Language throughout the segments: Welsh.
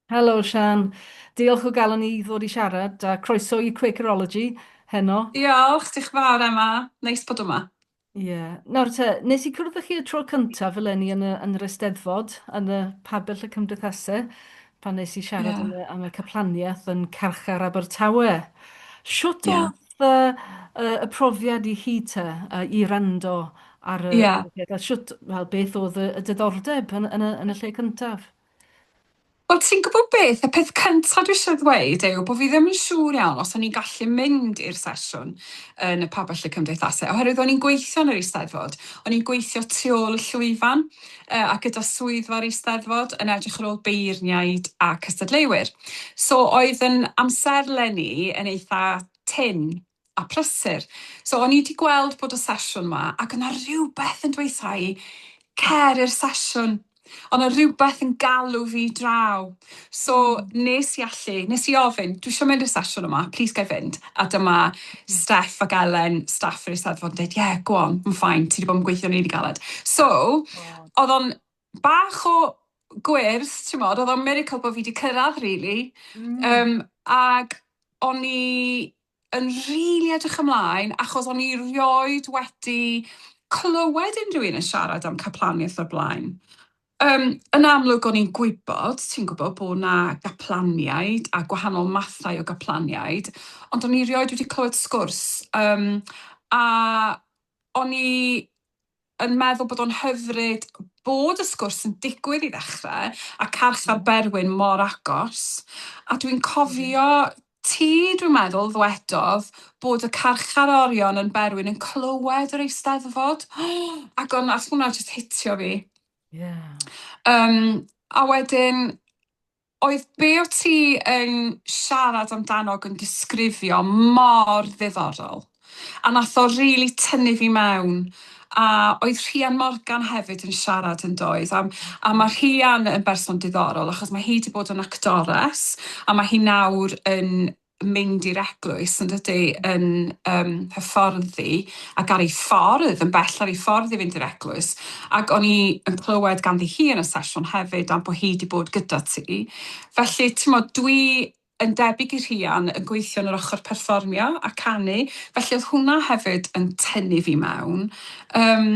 Helo Siân. Diolch o galon i ddod i siarad a croeso i Quakerology heno. Diolch, diolch yn fawr Emma, neis bod yma. Ie. Nawr te, nes i cwrdd â chi y tro cyntaf eleni yn y yn yr Eisteddfod, yn y Pabell y Cymdeithase, pan nes i siarad am y am y caplaniaeth yn Carchar Abertawe. Shwt o'dd Fatha yy y profiad i chi te yy i wrando ar y Ia. ar y peth a shwt wel beth o'dd y y diddordeb yn y yn y yn y lle cyntaf? Wel ti'n gwbo beth, y peth cynta dwi isie ddweud yw bo' fi ddim yn siŵr iawn os o'n i'n gallu mynd i'r sesiwn yn y Pabell y Cymdeithase oherwydd o'n i'n gweithio yn yr Eisteddfod, o'n i'n gweithio tu ôl y llwyfan, a gyda swyddfa'r Eisteddfod yn edrych ar ôl beirniaid a cystadleuwyr. So oedd yn amserlen i yn eitha tynn a prysur. So o'n i wedi gweld bod y sesiwn yma ac oedd yna rhywbeth yn dweud 'tha i, cer i'r sesiwn. Oedd yna rhywbeth yn galw fi draw. So nes i allu, nes i ofyn, dwi eisiau mynd i'r sesiwn yma, please ga i fynd? A dyma Steff ac Elen, staff yr Eisteddfod, yn dweud, yeah, go on, yn ffain, ti wedi bod yn gweithio yn rili galed. So, oedd o'n bach o gwrs, ti'n modd, oedd o'n miracle bod fi wedi cyrraedd, really. Mm. Um, ac o'n i yn rili edrych ymlaen achos o'n i rioed wedi clywed unrhyw un yn siarad am caplaniaeth o'r blaen. Um, yn amlwg o'n i'n gwybod, ti'n gwybod, bod na gaplaniaid a gwahanol mathau o gaplaniaid, ond o'n i rioed wedi clywed sgwrs. Um, a o'n i yn meddwl bod o'n hyfryd bod y sgwrs yn digwydd i ddechrau, a carchar Berwyn mor agos, a dwi'n cofio ti, dwi'n meddwl, ddwedodd bod y carchar orion yn Berwyn yn clywed yr Eisteddfod, ac o'n, ath hwnna jyst hitio fi. Ie. Yym, a wedyn, Oedd be o ti yn siarad amdano ac yn disgrifio mor ddiddorol a nath o rili tynnu fi mewn a oedd Rhian Morgan hefyd yn siarad yn doedd a a ma' Rhian yn berson diddorol achos ma' hi 'di bod yn actores a ma' hi nawr yn mynd i'r eglwys yn dydi yn yym hyfforddi ac ar ei ffordd yn bell ar ei ffordd i fynd i'r eglwys ac o'n i yn clywed ganddi hi yn y sesiwn hefyd am bod hi wedi bod gyda ti felly t'mod dwi yn debyg i Rhian yn gweithio yn yr ochr perfformio a canu felly oedd hwnna hefyd yn tynnu fi mewn yym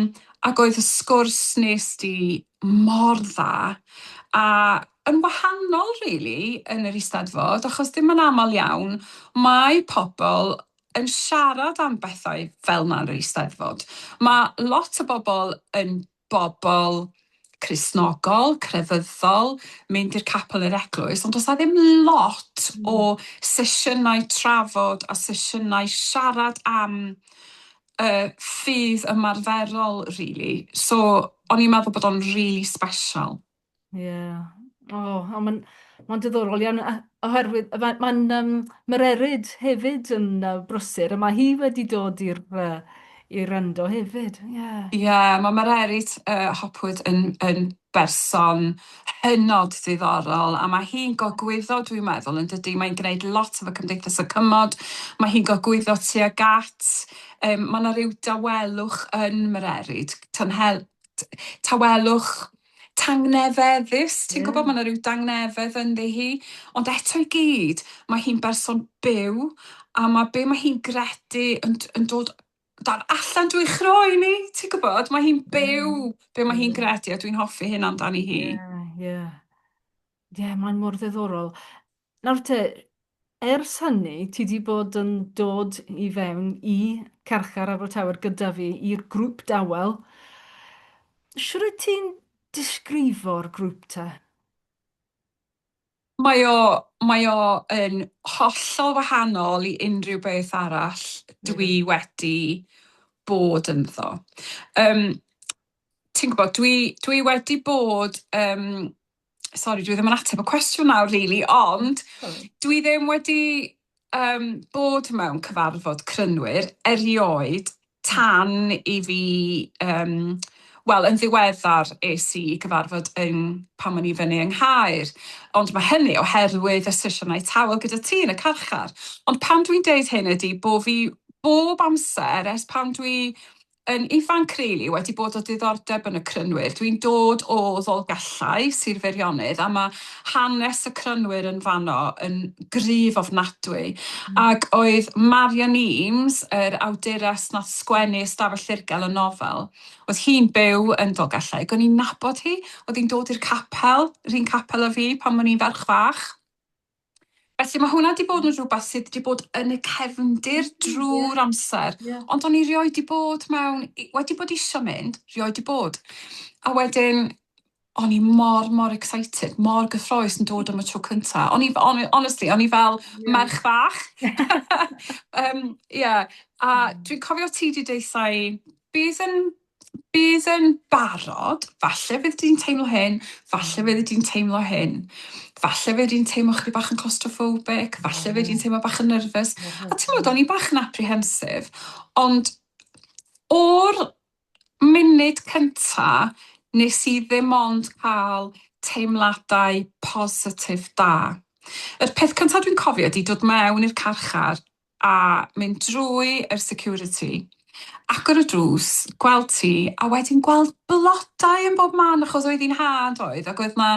ac oedd y sgwrs nes di mor dda a yn wahanol rili yn yr Eisteddfod achos ddim yn aml iawn mae pobl yn siarad am bethau fel 'na yn yr Eisteddfod. Mae lot o bobl yn bobl Cristnogol, crefyddol, mynd i'r capel i'r eglwys ond does 'na ddim lot o sesiynau trafod a sesiynau siarad am y ffydd ymarferol rili so o'n i'n meddwl bod o'n rili sbeshal. Ie. O, o ma'n ma'n diddorol iawn a- oherwydd yy ma' ma'n yym ma'r erid hefyd yn yy brysur a ma' hi wedi dod i'r yy i wrando hefyd. Ie. Ie, ma' Mererid yy Hopwood yn yn berson hynod ddiddorol a ma' hi'n gogwyddo dwi'n meddwl yndydi? Mae'n gwneud lot efo Cymdeithas y Cymod, ma' hi'n gogwyddo tuag at yym ma' 'na ryw dawelwch yn Mererid, tanhel- t- tawelwch Tangnefeddus, ti'n gwybod, mae yna rhyw dangnefedd ynddi hi, ond eto i gyd, mae hi'n berson byw, a mae be mae hi'n gredu yn, yn dod dan allan drwy chroen ni, ti'n gwybod, mae hi'n byw be mae hi'n gredu, a dwi'n hoffi hyn amdani hi. Ie, ie. Ie, mae'n mor ddiddorol. Nawr te, ers hynny ti 'di bod yn dod i fewn i Carchar Abertawe gyda fi i'r grŵp dawel. Shwt wyt ti'n disgrifo'r grŵp te? Mae o, mae o yn hollol wahanol i unrhyw beth arall dwi wedi bod ynddo. Yym, ti'n gwbod, dwi, dwi wedi bod yym sori dwi ddim yn ateb y cwestiwn nawr rili ond dwi ddim wedi yym bod mewn cyfarfod crynwyr erioed tan i fi yym wel yn ddiweddar es i i gyfarfod yn pan o'n i fyny yng Nghaer ond ma' hynny oherwydd y sesiynau tawel gyda ti yn y carchar ond pan dwi'n deud hyn ydi bo' fi bob amser ers pan dwi Yn ifanc rili wedi bod o diddordeb yn y crynwyr. Dwi'n dod o Ddolgellau, Sir Feirionnydd, a mae hanes y crynwyr yn fanno yn gryf ofnadwy. Ac oedd Marian Eames, yr awdures nath sgwennu Ystafell Ddirgel y nofel, oedd hi'n byw yn Dolgellau ac o'n i'n nabod hi, oedd hi'n dod i'r capel, 'run capel â fi pan o'n i'n ferch fach. Felly mae hwnna wedi bod yn rhywbeth sydd wedi bod yn y cefndir drwy'r amser. Ond o'n i rioed wedi bod mewn... wedi bod eisiau mynd, rioed wedi bod. A wedyn, o'n i mor, mor excited, mor gyffroes yn dod am y tro cynta. O'n i, on, honestly, o'n i fel yeah. merch fach. um, yeah. A dwi'n cofio ti wedi deithau, bydd yn bydd yn barod, falle fydd di'n teimlo hyn, falle fydd di'n teimlo hyn, falle fydd di'n teimlo chdi bach yn claustrophobic, falle fydd di'n mm. teimlo bach yn nerfus, mm. a ti'n meddwl, o'n i bach yn apprehensive, ond o'r munud cynta nes i ddim ond cael teimladau positif da. Yr peth cyntaf dwi'n cofio ydi dod mewn i'r carchar a mynd drwy yr security, agor y drws, gweld ti, a wedyn gweld blodau yn bob man, achos oedd hi'n ha' yn doedd, ac oedd 'na,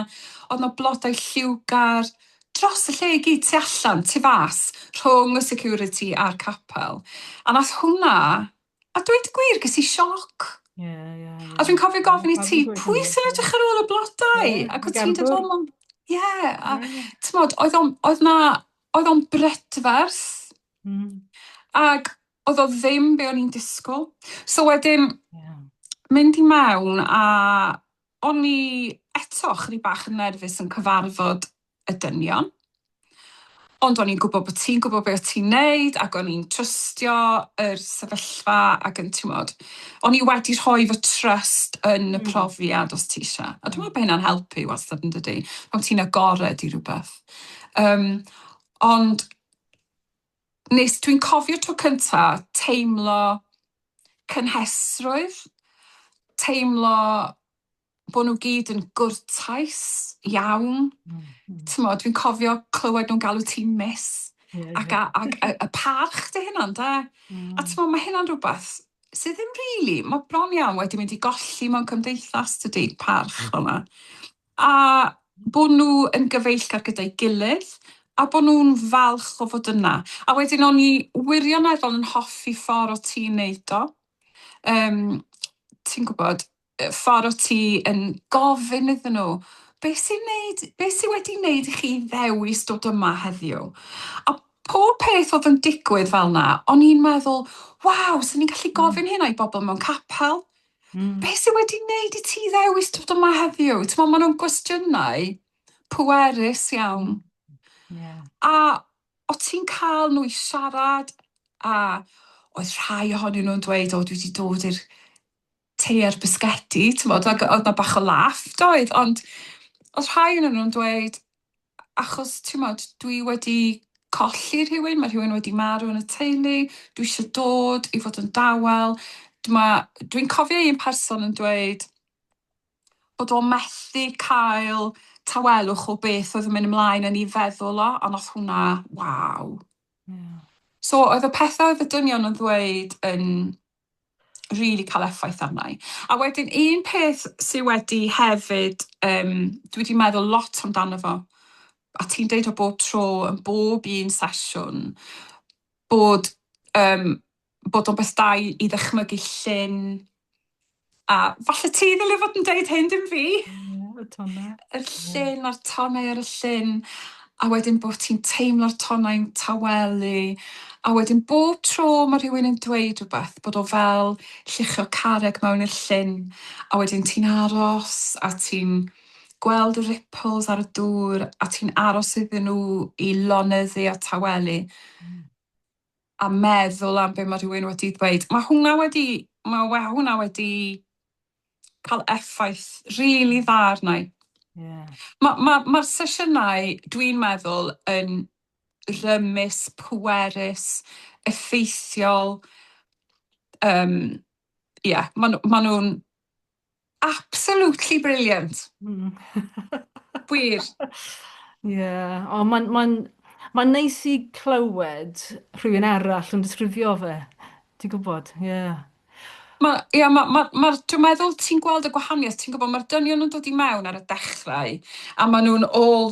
oedd 'na blodau lliwgar dros y lle i gyd, tu allan, tu fas, rhwng y security a'r capel, a nath hwnna, a dweud y gwir, ges i sioc. Ie, ie, ie. A dwi'n cofio gofyn i ti, pwy sy'n edrych ar ôl y blodau? Ac o' ti'n dweud, ie, a t'mod, oedd o'n, oedd 'na, oedd o'n brydferth. Mm. Ac oedd o ddim be o'n i'n disgwyl. So wedyn, yeah. mynd i mewn a o'n i eto chri bach yn nerfus yn cyfarfod y dynion. Ond o'n i'n gwybod bod ti'n gwybod beth ti'n neud ac o'n i'n trystio yr sefyllfa ac yn tymod. O'n i wedi rhoi fy trust yn y hmm. profiad os ti eisiau. A dwi'n meddwl bod hynna'n helpu wastad yn dydy. Pan ti'n agored i rhywbeth. Yym ond nes... Dwi'n cofio tro cynta teimlo cynhesrwydd, teimlo bo' nw gyd yn gwrtais iawn. T'mod dwi'n cofio clywed nw'n galw ti'n miss ac a- ac yy y parch 'di hynna ynde? A t'mo' ma' hynna'n rwbeth sy ddim rili ma' bron iawn wedi mynd i golli mewn cymdeithas tydi? Parch fel 'na. a bod nhw yn gyfeillgar gyda'i gilydd a bod nhw'n falch o fod yna. A wedyn o'n i wirioneddol yn hoffi ffordd o ti'n neud o, yym ti'n gwybod, y ffordd o ti yn gofyn iddyn nhw be sy'n neud... be sy wedi neud i chi ddewis dod yma heddiw? A pob peth oedd yn digwydd fel 'na o'n i'n meddwl 'waw, 'sen ni'n gallu gofyn hynna i bobl mewn capel'. Mm. Be sydd wedi wneud i ti ddewis dod yma heddiw? Ti'n meddwl, maen nhw'n gwestiynau pwerus iawn. Yeah. A o ti'n cael nhw i siarad a oedd rhai ohonyn nhw'n dweud, o dwi wedi dod i'r te ar bisgedi, ti'n meddwl, oedd na bach o laff, doedd, ond oedd rhai ohonyn nhw'n dweud, achos t'mod dwi wedi colli rhywun ma' rhywun wedi marw yn y teulu dwi isio dod i fod yn dawel dma dwi'n cofio un person yn dweud bod o methu cael tawelwch o beth oedd yn mynd ymlaen yn 'i feddwl o a nath hwnna waw. Ie. So oedd y pethe oedd y dynion yn ddweud yn rili cael effaith arna i. A wedyn un peth sydd wedi hefyd, um, dwi wedi meddwl lot amdano fo, a ti'n deud o bob tro, yn bob un sesiwn, bod, um, bod o'n beth da i, i ddychmygu llun A falle ti ddylai fod yn deud hyn, dim fi. Ie, y tonau. Y llun a'r tonau ar y llun. A wedyn bod ti'n teimlo'r tonau'n tawelu. A wedyn bob tro mae rhywun yn dweud rhywbeth, bod o fel lluchio carreg mewn i'r llun. A wedyn ti'n aros a ti'n gweld y ripples ar y dŵr a ti'n aros iddyn nhw i lonyddu a tawelu. a meddwl am be mae rhywun wedi dweud. Mae hwnna wedi, mae we, hwnna wedi cael effaith rili really dda arna i. Yeah. Mae'r ma, ma, ma sesiynau, dwi'n meddwl, yn rymus, pwerus, effeithiol. Um, yeah, maen ma nhw'n Absolutely brilliant! Wir. Ie, o mae'n mae'n mae'n neis i clywed rhywun arall yn disgrifio fe, ti'n gwybod, ie. Ma' ia ma' ma' ma'r dwi'n meddwl ti'n gweld y gwahaniaeth ti'n gwybod ma'r dynion yn dod i mewn ar y dechrau a maen nhw'n all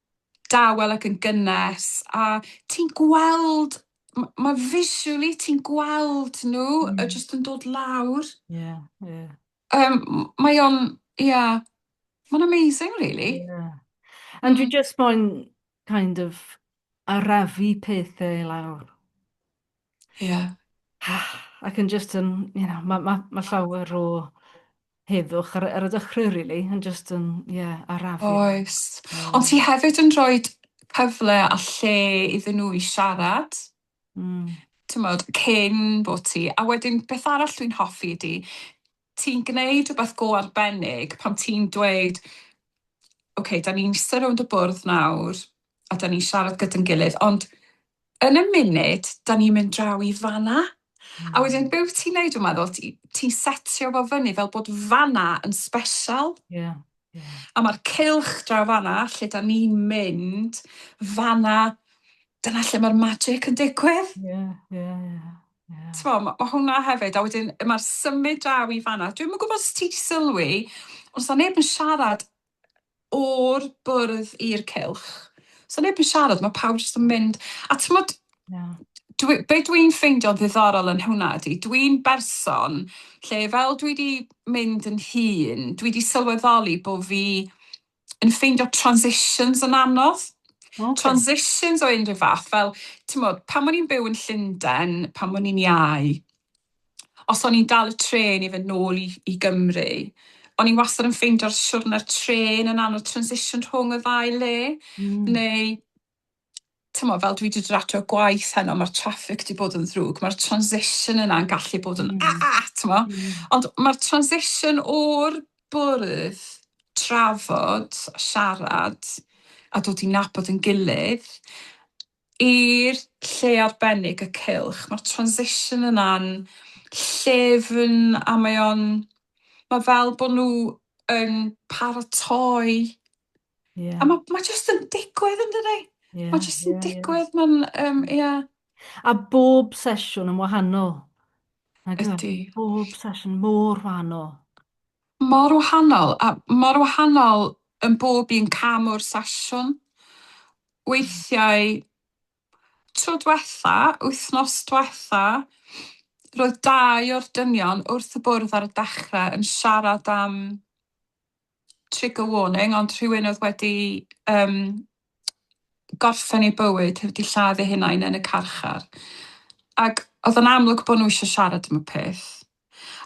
dawel ac yn gynnes a ti'n gweld m- ma' visually ti'n gweld nhw mm. y jyst yn dod lawr. Yeah, yeah. Um, mae o'n, yeah, mae'n amazing really. Yeah. And mm. you just moyn kind of arafu pethau lawr. Ie. Ac yn jyst yn you know ma' ma' ma' llawer o heddwch ar y ar y dechrau rili yn jyst yn ie arafu. Oes. Ond ti hefyd yn rhoi cyfle a lle iddyn nhw i siarad. Mm. T'mod cyn bod ti a wedyn beth arall dwi'n hoffi ydi ti'n gwneud rhywbeth go arbennig pan ti'n dweud, ok, da ni'n eistedd rownd y bwrdd nawr a da ni'n siarad gyda'n gilydd, ond yn y munud da ni'n mynd draw i fanna, a wedyn be wyt ti'n neud dwi'n meddwl, ti'n setio fo fyny fel bod fanna yn special. Yeah. Yeah. A mae'r cylch draw fanna lle da ni'n mynd, fanna, dyna lle mae'r magic yn digwydd. Yeah, yeah, yeah. T'mo' ma' ma' hwnna hefyd a wedyn yy ma'r symud draw i fan 'na dwi'm yn gwbod os ti 'di sylwi ond sa neb yn siarad o'r bwrdd i'r cylch. Sa neb yn siarad ma' pawb jyst yn mynd a t'mod... Na. ...dwi be' dwi'n ffeindio'n ddiddorol yn hwnna ydi dwi'n berson lle fel dwi 'di mynd yn hŷn dwi 'di sylweddoli bo' fi yn ffeindio transitions yn anodd. Okay. Transitions o unrhyw fath, fel, ti'n modd, pan o'n i'n byw yn Llundain, pan o'n i'n iau, os o'n i'n dal y tren i fynd nôl i, i Gymru, o'n i'n wastad yn ffeindio'r siwrne'r tren yn anodd transition rhwng y ddau le, mm. neu tymor, fel dwi wedi dod at o'r gwaith heno, mae'r traffic wedi bod yn ddrwg, mae'r transition yna'n gallu bod yn mm. a, a tymo. Mm. Ond mae'r transition o'r bwrdd trafod, siarad, a dod i nabod yn gilydd, i'r lle arbennig y cilch. Mae'r transition yna'n llefyn a mae o'n... Mae fel bod nhw yn paratoi Yeah. A mae ma jyst yn digwydd yn dydy. Yeah, mae jyst yn yeah, digwydd, yeah. mae'n, um, yeah. A bob sesiwn yn wahanol. Ydy. Bob sesiwn mor wahanol. Mor wahanol, a mor wahanol yn bob un cam o'r sesiwn. Weithiau, tro diwetha, wythnos diwetha, roedd dau o'r dynion wrth y bwrdd ar y dechrau yn siarad am trigger warning, ond rhywun oedd wedi um, gorffen ei bywyd, wedi lladd ei hunain yn y carchar. Ac oedd yn amlwg bod nhw eisiau siarad am y peth.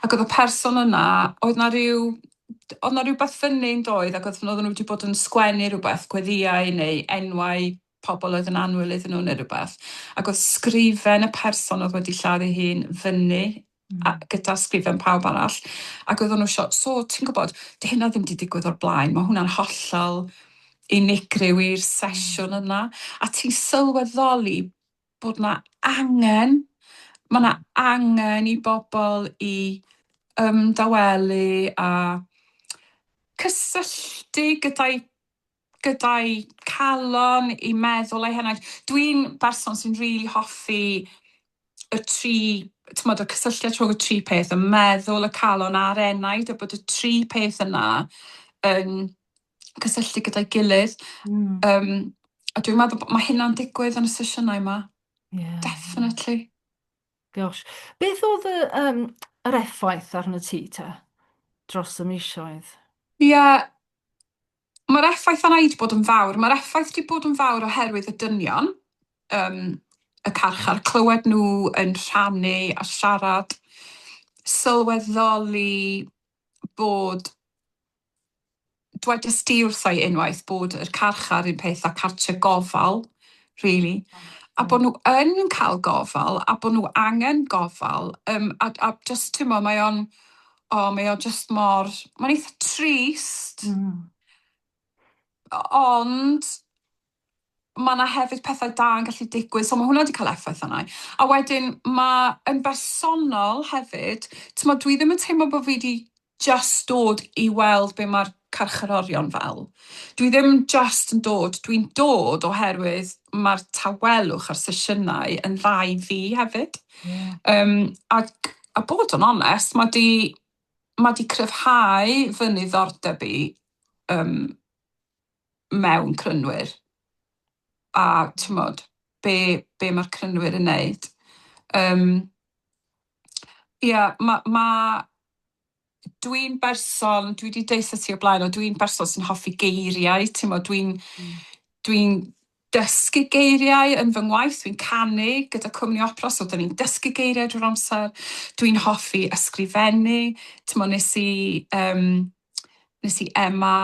Ac oedd y person yna, oedd na rhyw oedd na rhywbeth fyny yn doedd ac oedd nhw wedi bod yn sgwennu rhywbeth gweddiau neu enwau pobl oedd yn annwyl iddyn nhw neu rhywbeth, ac oedd sgrifen y person oedd wedi lladd ei hun fyny a, hmm. gyda sgrifen pawb arall, ac oedd nhw eisiau, so ti'n gwybod, dy hynna ddim wedi digwydd o'r blaen, mae hwnna'n hollol unigryw i'r hmm. sesiwn yna, a ti'n sylweddoli bod yna angen, mae yna angen i bobl i ymdawelu a cysylltu gyda'i gyda'i calon, ei meddwl a'i henaint. Dwi'n berson sy'n rili hoffi y tri, t'mod, y cysylltiad rhwng y tri peth, y meddwl, y calon a'r enaid, a bod y tri peth yna yn cysylltu gyda'i gilydd. Mm. Um, a dwi'n meddwl bod mae hynna'n digwydd yn y sesiynau yma. Yeah. Definitely. Gosh. Beth oedd y, um, yr effaith arno ti ta dros y misioedd? Ie, yeah, Mae'r effaith yna wedi bod yn fawr. Mae'r effaith wedi bod yn fawr oherwydd y dynion ym y carchar, clywed nhw yn rhannu a siarad, sylweddoli bod dwedais di wrtha i unwaith bod yr carchar un peth â cartre gofal rili a bod nhw yn cael gofal a bod nhw angen gofal yym a a jyst timlo mae o'n O mae o jyst mor ma'n eitha trist. Hmm. O- ond ma' 'na hefyd pethau da yn gallu digwydd so ma' hwnna 'di ca'l effaith arna i. A wedyn ma' yn bersonol hefyd t'mod dwi ddim yn teimlo bo' fi 'di jyst dod i weld be' ma'r carcharorion fel. Dwi ddim jyst yn dod, dwi'n dod oherwydd mae'r tawelwch a'r sesiynau yn dda i fi hefyd. Yeah. Um, ac, a bod yn onest, mae di, mae di cryfhau fy niddordeb i um, mewn crynwyr. A, ti'n modd, be, be mae'r crynwyr yn neud. Um, Ia, mae ma, dwi'n berson, dwi 'di deutha ti o blaen o dwi'n berson sy'n hoffi geiriau, ti'n mo, dwi'n hmm. dwi'n dysgu geiriau yn fy ngwaith, dwi'n canu gyda cwmni opera, so dyn ni'n dysgu geiriau drwy'r amser, dwi'n hoffi ysgrifennu, ti'n mo, nes i, um, nes i Emma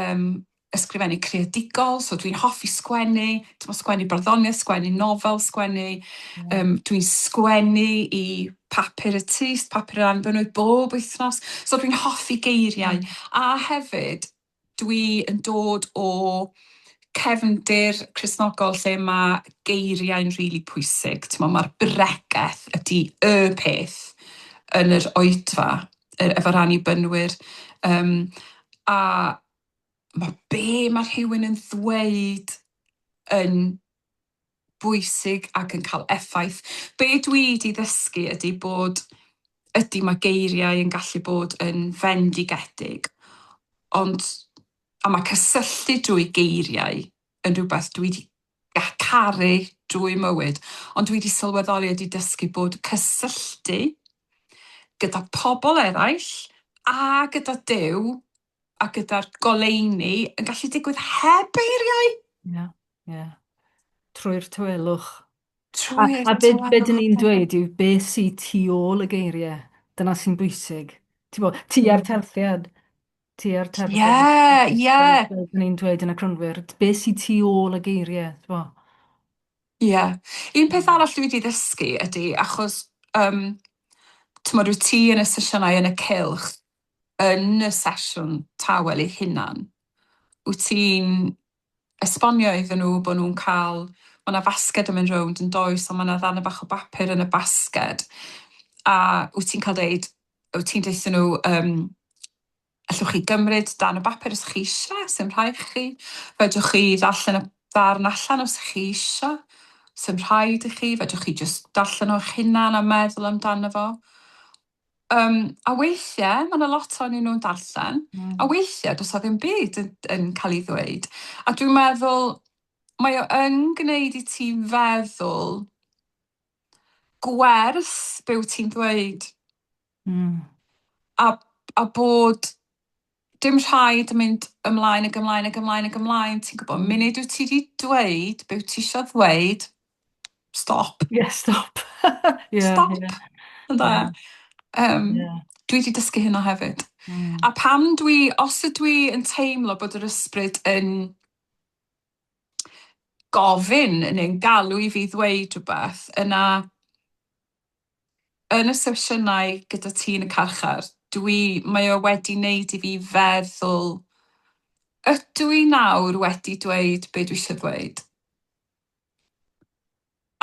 um, ysgrifennu creadigol, so dwi'n hoffi sgwennu, t'mo' sgwennu barddoniaeth, sgwennu nofel, sgwennu yym dwi'n sgwennu i papur y tŷ, s- papur yr annibynnwyr bob wythnos, so dwi'n hoffi geiriau a hefyd dwi yn dod o cefndir Cristnogol lle ma' geiriau'n rili pwysig, t'mo' ma'r bregeth ydi y peth yn yr oedfa yy efo'r annibynnwyr yym a Mae be mae rhywun yn ddweud yn bwysig ac yn cael effaith. Be dwi wedi ddysgu ydy bod ydy mae geiriau yn gallu bod yn fendigedig, ond a mae cysylltu drwy geiriau yn rhywbeth dwi wedi caru drwy mywyd, ond dwi wedi sylweddoli a wedi dysgu bod cysylltu gyda pobl eraill a gyda Duw a gyda'r goleuni yn gallu digwydd heb eiriau. Ie, yeah, ie. Yeah. Trwy'r tywelwch. Trwy'r A, a beth be dyn ni'n dweud yw beth sy'n tu ôl y geiriau. Dyna sy'n bwysig. Ti'n bod, ti ar hmm. terthiad. Ti ar terthiad. Ie, ie. Fel dyn ni'n dweud yn y crynwyr, beth sy'n tu ôl y geiriau, ti'n bod? Ie. Yeah. Un peth hmm. arall dwi wedi ddysgu ydy, achos, um, ti'n bod, wyt ti yn y sesiynau yn y cilch, yn y sesiwn tawel eu hunan, wyt ti'n esbonio iddyn nhw bod nhw'n cael, ma' 'na fasged yn mynd rownd yn does, ond ma' 'na ddarne bach o bapur yn y basged, a wyt ti'n cael deud, wyt ti'n deutha nhw yym allwch chi gymryd darn o bapur os chi eisiau, sdim rhaid chi, fedrwch chi ddarllen y darn allan os chi eisiau, sdim rhaid i chi, fedrwch chi jyst darllen o eich hunan a meddwl amdano fo, Um, a weithiau, mae yna lot o'n nhw'n darllen, mm. a weithiau does o ddim byd yn, yn cael ei ddweud. A dwi'n meddwl, mae o yn gwneud i ti feddwl gwerth byw ti'n ddweud. Mm. A, a bod Dim rhaid mynd ymlaen ag ymlaen ag ymlaen ag ymlaen, ti'n gwybod, munud wyt ti wedi dweud be wyt ti eisiau ddweud, stop. Ie, yeah, stop. yeah, stop, yeah. ynda. Yeah. Um, yeah. Dwi wedi dysgu hynna hefyd. Mm. A pam dwi, os ydw i yn teimlo bod yr ysbryd yn gofyn neu'n galw i fi ddweud rhywbeth, yna yn y sesiynau gyda ti yn y carchar, dwi... mae o wedi wneud i fi feddwl, ydw i nawr wedi dweud be dwi eisiau ddweud?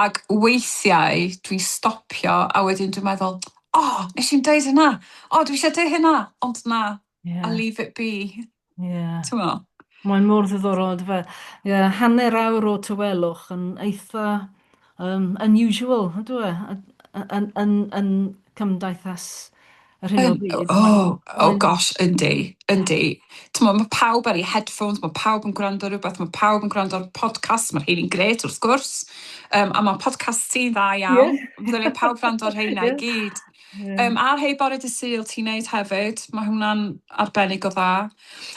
Ac weithiau dwi'n stopio a wedyn dwi'n meddwl, 'o, wnes i'm dweud hynna, o, dwi eisiau deud hynna', ond na, Yeah. A leave it be. Yeah. T'mo'? Mae'n mor ddiddorol on'd yfe? Ie hanner awr o tawelwch yn eitha um, unusual ydw e yn yn yn cymdeithas yr hyn o bryd. Oh, oh gosh, yndi, yndi. T'mo' mae pawb ar ei headphones, mae pawb yn gwrando rhywbeth, mae pawb yn gwrando ar podcast, mae'r rheini'n gret wrth gwrs. Um, a mae podcast sy'n dda iawn. Yeah. Fydden ni pawb gwrando ar rheina yeah. i gyd. Ie. Yym ar Hey Bore Dy Sul ti'n neud hefyd, ma' hwnna'n arbennig o dda.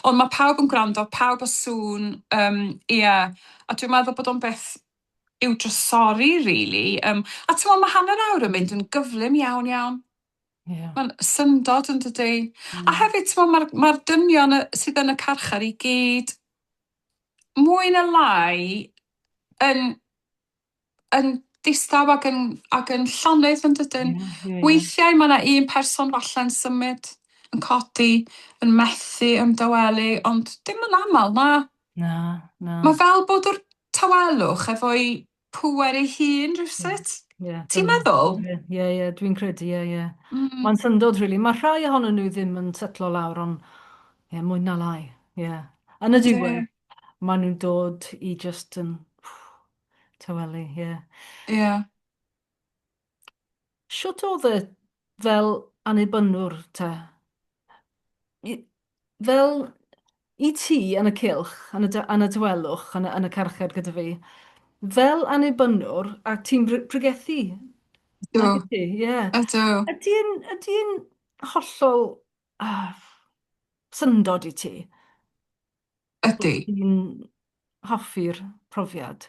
Ond ma' pawb yn gwrando, pawb a sŵn yym ie a dwi'n meddwl bod o'n beth i'w drysori rili yym a t'mo' ma' hanner awr yn mynd yn gyflym iawn iawn. Ie. Ma'n syndod yndydi? Hmm. A hefyd t'mo' ma'r ma'r dynion yy sydd yn y carchar i gyd mwy ne' lai yn yn distaw ac yn, ac yn llonydd yn dydyn? Yeah, yeah, yeah. Weithiau mae yna un person falle'n symud, yn codi, yn methu ymdawelu, ond dim yn aml, na. Na, na. Mae fel bod yr tawelwch efo'i pŵer ei hun rhywsut. Yeah, Ti'n meddwl? Ie, yeah, yeah, dwi'n credu, ie, yeah, ie. Yeah. Mm. Mae'n syndod, really. Mae rhai ohonyn nhw ddim yn setlo lawr, ond ie, yeah, mwy na lai, ie. Yeah. Yn y diwedd, yeah. maen nhw'n dod i just yn Taweli, ie. Yeah. Ie. Yeah. Shwt oedd e fel annibynnwr ta? I, fel i ti yn y cilch, yn y, yn y dywelwch, yn y, yn y carchar gyda fi, fel annibynnwr, a ti'n pregethu. Do. Ie. Yeah. Ydw. Ydy yn, ydy yn hollol uh, syndod i ti? Ydy. Wyt ti'n hoffi'r profiad?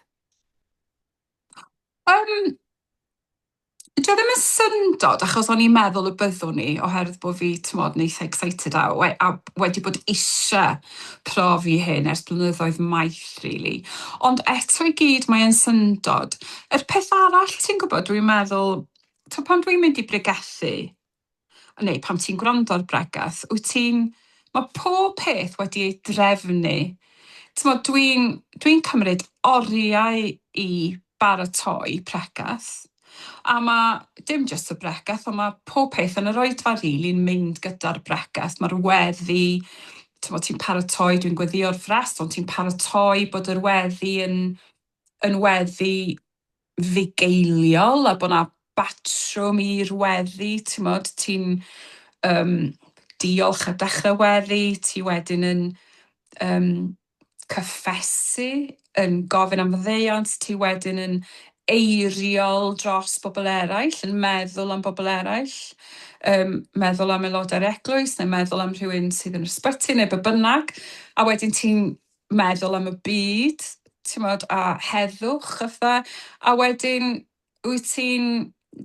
Um, Dio ddim yn syndod, achos o'n i'n meddwl y byddwn i, oherwydd bod fi, ti'n modd, yn eitha excited a, we, a wedi bod eisiau profi hyn ers blynyddoedd maith, really. Ond eto i gyd, mae'n syndod. Yr peth arall, ti'n gwybod, dwi'n meddwl, to pan dwi'n mynd i bregethu, neu pan ti'n gwrando ar bregeth, wyt ti'n... Mae pob peth wedi ei drefnu. Timod, dwi'n dwi cymryd oriau i baratoi pregeth, a mae dim jyst y bregeth, ond mae pob peth yn yr oedfa rili'n mynd gyda'r bregeth. Mae'r weddi, timod, ti'n paratoi, dwi'n gweddïo'r frest, ond ti'n paratoi bod yr weddi yn yn weddi fugeiliol a bod 'na batrwm i'r weddi, timod, ti'n yym diolch ar dechrau weddi, ti wedyn yn yym cyffesu, yn gofyn am faddeuant, ti wedyn yn eiriol dros bobl eraill, yn meddwl am bobl eraill, yn meddwl am aelodau'r eglwys, yn meddwl am rhywun sydd yn yr ysbyty neu be bynnag, a wedyn ti'n meddwl am y byd t'mod a heddwch fatha a wedyn wyt ti'n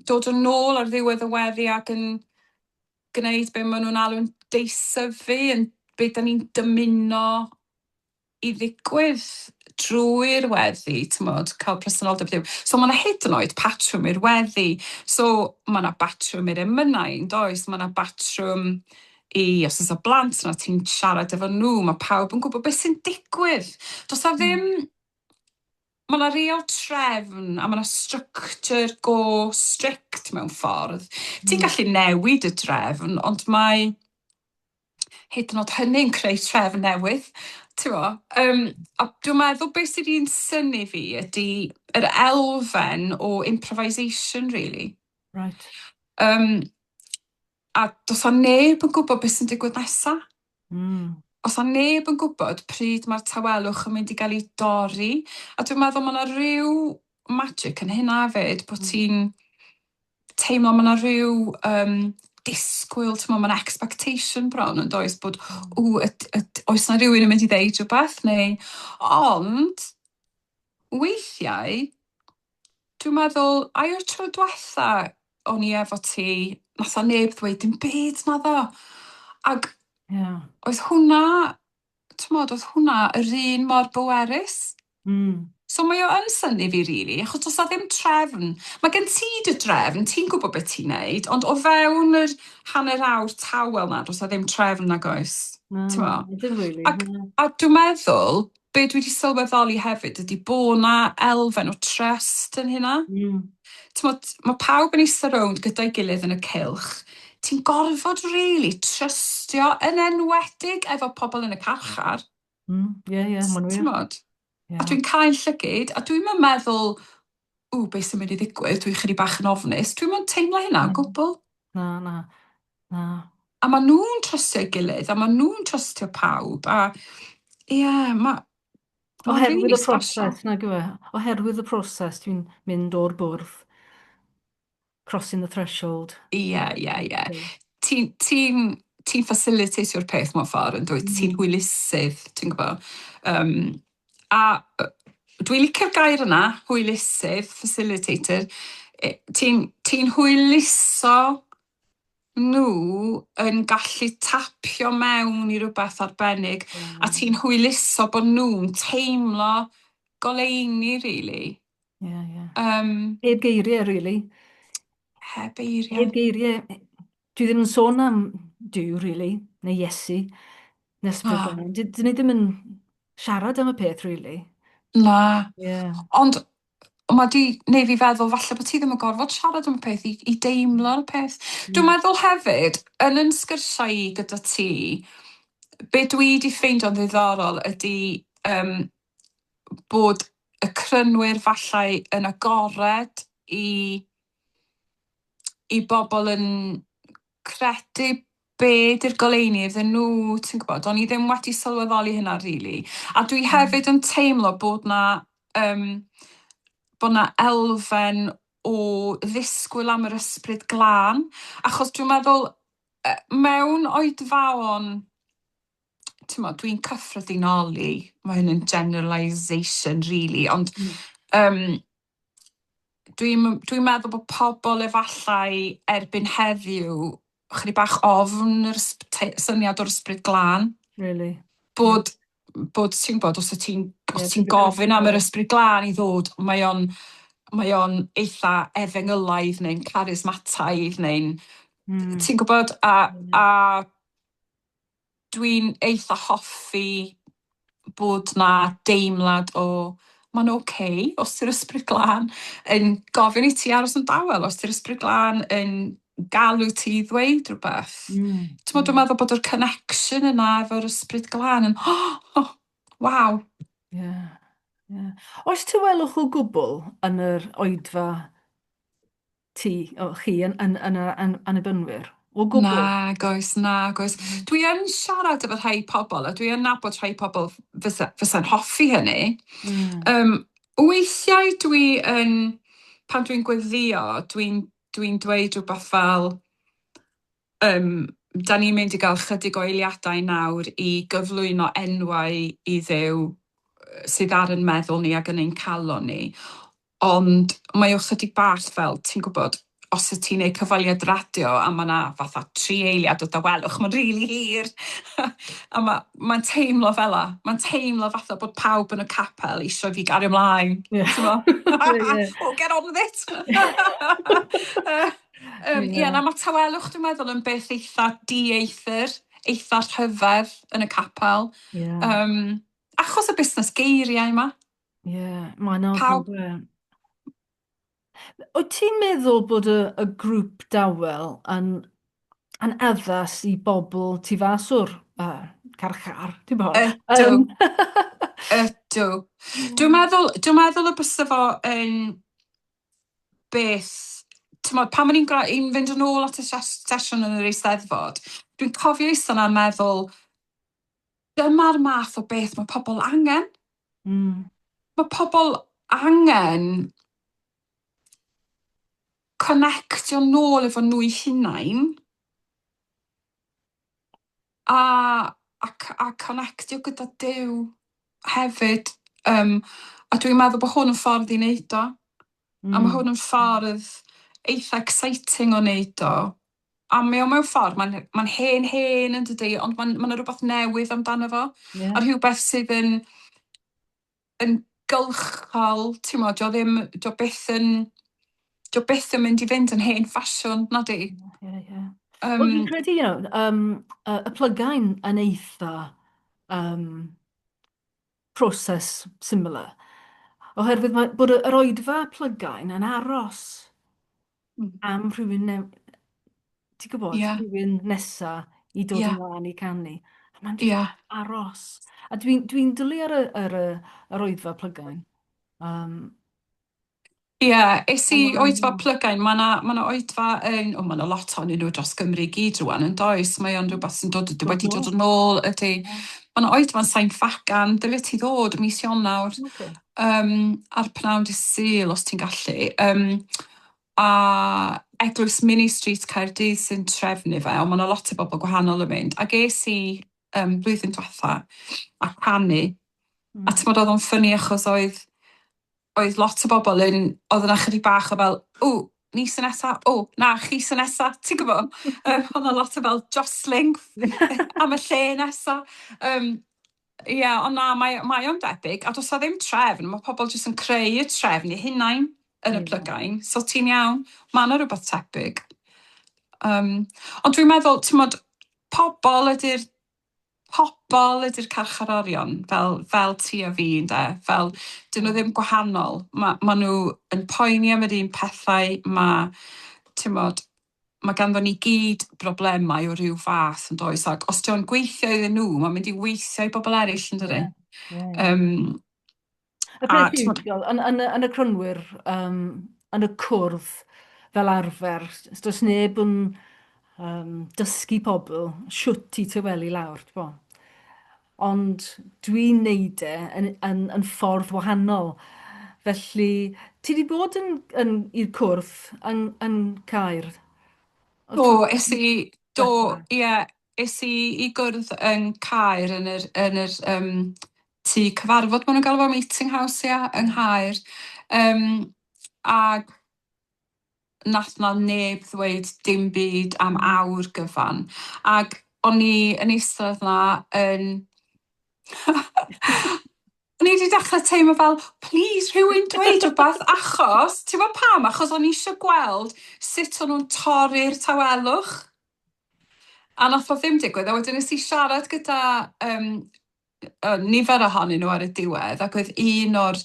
dod yn ôl ar ddiwedd y weddi ac yn gneud be' ma' nw'n alw'n deisyfu yn be' 'dan ni'n dymuno i ddigwydd drwy'r weddi t'mod ca'l presenoldeb Duw. So ma' 'na hyd yn oed patrwm i'r weddi so ma' 'na batrwm i'r emynau yndoes ma' 'na batrwm Ie, os oes 'na blant 'na ti'n siarad efo nhw, mae pawb yn gwybod beth sy'n digwydd. Does 'na ddim... Mae 'na real trefn a mae 'na structure go strict mewn ffordd. Ti'n gallu newid y drefn ond mae hyd yn oed hynny'n creu trefn newydd, tibod. Yym a dwi'n meddwl be sy 'di yn synnu fi ydy yr elfen o improvisation rili... Reit. ...Yym. A does a neb yn gwybod beth sy'n digwydd nesaf. Mm. Os a neb yn gwybod pryd mae'r tawelwch yn mynd i gael ei dorri, a dwi'n meddwl mae yna rhyw magic yn hynna fyd, bod mm. ti'n teimlo mae yna rhyw um, disgwyl, ti'n meddwl, mae'n expectation bron yn does bod, o, oes na rhywun yn mynd i ddeud rhywbeth neu, ond weithiau Dwi'n meddwl, ai o'r tro diwetha o'n i efo ti, nath o neb ddweud dim byd na ddo. Ac yeah. oedd hwnna, ti'n modd, oedd hwnna yr un mor bwerus. Mm. So mae o yn syni fi rili, really, achos os a ddim trefn, mae gen ti dy drefn, ti'n gwybod beth ti'n neud, ond o fewn yr hanner awr tawel na, os a ddim trefn nag oes. No, Ac, a dwi'n meddwl, Be dwi di sylweddoli hefyd ydi bo' 'na elfen o trust yn hynna. Mm. T'mod, ma' pawb yn eista rownd gyda'i gilydd yn y cylch, ti'n gorfod rili trystio, yn enwedig efo pobl yn y carchar. Mm, ie, ie, ma'n wir. T'mod? Ie. A dwi'n cau'n llygid, a dwi'm yn meddwl ww, be sy'n mynd i ddigwydd, dwi chydig bach yn ofnus. Dwi'm yn teimlo hynna o mm. gwbl. Na, na, na. A ma' nhw'n trystio'i gilydd, a ma' nhw'n trystio pawb, a ie, yeah, ma' Oherwydd y proses, nag yw e? Oherwydd y proses, dwi'n mynd o'r bwrdd crossing the threshold. Ie, ie, ie. Ti'n ti ti facilitatio'r peth mewn ffordd, yn dwyt? Ti'n hwylusydd, ti'n gwybod. Um, a dwi'n licio'r gair yna, hwylusydd, facilitator. E, ti'n ti hwyluso nhw yn gallu tapio mewn i rhywbeth arbennig, mm. a ti'n hwyluso bod nhw'n teimlo goleini, really. Ie, ie. Um, heb geiriau, really. Heb geiriau. Heb geiriau. Dwi ddim yn sôn am Dyw, really, neu Iesu, nes bod ah. Dyn ni ddim yn siarad am y peth, really. Na. Yeah. Ond mae di neu fi feddwl falle bod ti ddim yn gorfod siarad am y peth i, i deimlo'r peth. Mm. Dwi'n meddwl hefyd, yn yn sgyrsiau i gyda ti, be dwi wedi ffeindio'n ddiddorol ydy um, bod y crynwyr fallai yn agored i i bobl yn credu be 'di'r goleuni iddyn nhw, ti'n gwybod? O'n i ddim wedi sylweddoli hynna rili. A dwi hefyd yn teimlo bod 'na yym bod 'na elfen o ddisgwyl am yr ysbryd glân, achos dwi'n meddwl yy mewn oedfaon t'mod dwi'n cyffredinoli ma' hyn yn generalisation rili ond yym dwi'm yn dwi'n meddwl bo' pobol efallai erbyn heddiw chydig bach ofn yr ysb- tei- syniad o'r ysbryd glân. Rili. Bod bod ti'n gwbod os o' ti'n os ti'n gofyn am yr ysbryd glân i ddod mae o'n mae o'n eitha efengylaidd neu'n charismataidd neu'n ti'n gwbod a a Dwi'n eitha hoffi bod 'na deimlad o mae'n ok os yw'r Ysbryd Glân yn gofyn i ti aros yn dawel, os yw'r Ysbryd Glân yn galw ti i ddweud rhywbeth. T'mod dwi'n meddwl bod yr connection yna efo'r Ysbryd Glân yn oh! waw! Ie, ie. Oes tawelwch o gwbl yn yr oedfa? ti, o, chi yn, yn, yn, yn, yn annibynnwyr. O gwbl. Nag oes, nag oes. Mm. Dwi yn siarad efo rhai pobl, a dwi yn nabod rhai pobl fysa'n fysa hoffi hynny. Mm. Um, weithiau dwi yn, pan dwi'n gweddio, dwi'n dwi, n, dweud rhywbeth fel, um, da ni'n mynd i gael chydig o eiliadau nawr i gyflwyno enwau i ddew sydd ar yn meddwl ni ac yn ein calon ni. Ond mae o chydig bach fel, ti'n gwybod, os wyt ti'n neud cyfweliad radio a ma' 'na fatha tri eiliad o dawelwch, ma'n rili hir! a ma- ma'n teimlo fela, ma'n teimlo fatha bod pawb yn y capel isio i fi gario mlaen, t'mod? Oh, get on with it! Yym, ie, na, ma' tawelwch dwi'n meddwl yn beth eitha dieithr, eitha rhyfedd yn y capel, yym, achos y busnes geiriau 'ma. Ie, mae'n anodd Pawb, yndyw e? Wyt ti'n meddwl bod y, y grŵp dawel yn, yn addas i bobl tu fas o'r uh, carchar, ti'n bod? ydw, Um, ydw. Dwi'n Mm. meddwl, dwi'n meddwl y bysa fo yn beth, ti'n modd, pan o'n i'n gra- i'n fynd yn ôl at y ses- sesiwn yn yr eisteddfod, dwi'n cofio eistedd yna a meddwl, Dyma'r math o beth mae pobl angen. Mm. Mae pobl angen connectio nôl efo nhw'i hunain a, a, a connectio gyda Dyw hefyd. Um, a dwi'n meddwl bod hwn yn ffordd i wneud o. Mm. A mae hwn yn ffordd eitha exciting o wneud o. a mae o mewn ffordd, mae'n mae hen hen yn dydy, ond mae'n mae yna rhywbeth newydd amdano fo, yeah. a rhywbeth sydd yn, yn gylchol, ti'n mo, dio ddim, dio beth yn, dio beth yn mynd i fynd yn hen ffasiwn, na di? Yeah, yeah, yeah. Um, Wel, fi'n credu, you know, um, y, y plygain yn eitha um, proses syml a oherwydd mae bod yr oedfa plygain yn aros mm. am rhywun ne... ti'n gwybod, yeah. rhywun nesa i dod yeah. ymlaen i canu. A mae'n yeah. aros. A dwi'n dwi, dwi dwlu ar y, ar y, yr oedfa plygain. Um, Ie, es i oedfa Plygain, mae 'na, mae 'na oedfa yn, o mae 'na lot ohonyn nhw dros Gymru i gyd rŵan yn does, mae o'n rhywbeth sy'n dod, wedi dod yn ôl ydy. Mae 'na oedfa'n Sain Ffagan, dyle ti ddod mis Ionawr yym a'r pnawn dydd Sul os ti'n gallu yym a Eglwys Mini Street Caerdydd sy'n trefnu fe, ond mae 'na lot o bobl gwahanol yn mynd, ac es i yym blwyddyn dwetha a canu, a timod oedd o'n ffyni achos oedd oedd lot o bobl yn, oedd yna chydig bach o fel, o, ni sy'n nesa, o, na, chi sy'n nesa, ti'n gwybod? Um, oedd yna lot o fel jostling am y lle nesa. Um, Ie, yeah, ond na, mae, mae o'n debyg, a does ddim trefn, mae pobl jyst yn creu y trefn i hunain yn y hmm. plygain, so ti'n iawn, mae yna rhywbeth tebyg. Um, ond dwi'n meddwl, ti'n modd, pobl ydy'r pobl ydy'r carcharorion, fel, fel ti a fi, ynde? Fel, dyn nhw ddim gwahanol. Ma', ma' nhw yn poeni am yr un pethau, ma', timod, ma' ganddo ni gyd broblemau o ryw fath, yn does? Ac os dio'n gweithio iddyn nhw, mae'n mynd i weithio i bobl eraill, yn dydy? Ie, ie. Yym, Y peth yw, yn, yn, yn y crynwyr, um, yn y cwrdd fel arfer, does neb yn um, dysgu pobl siwt i tywelu lawr, bo. Ond dwi'n neud e yn, yn, yn ffordd wahanol. Felly, ti wedi bod yn, yn, i'r cwrdd yn, yn Caer? O, es i, do, ie, yeah, es i i gwrdd yn Caer yn yr, yn yr um, tŷ cyfarfod ma' nhw'n galw fo meeting house ia yng Nghaer yym ag nath 'na neb ddweud dim byd am awr gyfan ag o'n i yn eistedd 'na yn o'n i 'di dechre teimlo fel plîs rhywun dweud rwbath achos t'bo' pam achos o'n i isio gweld sut o'n nhw'n torri'r tawelwch a nath o ddim digwydd a wedyn nes i siarad gyda yym nifer ohonyn nhw ar y diwedd, ac oedd un o'r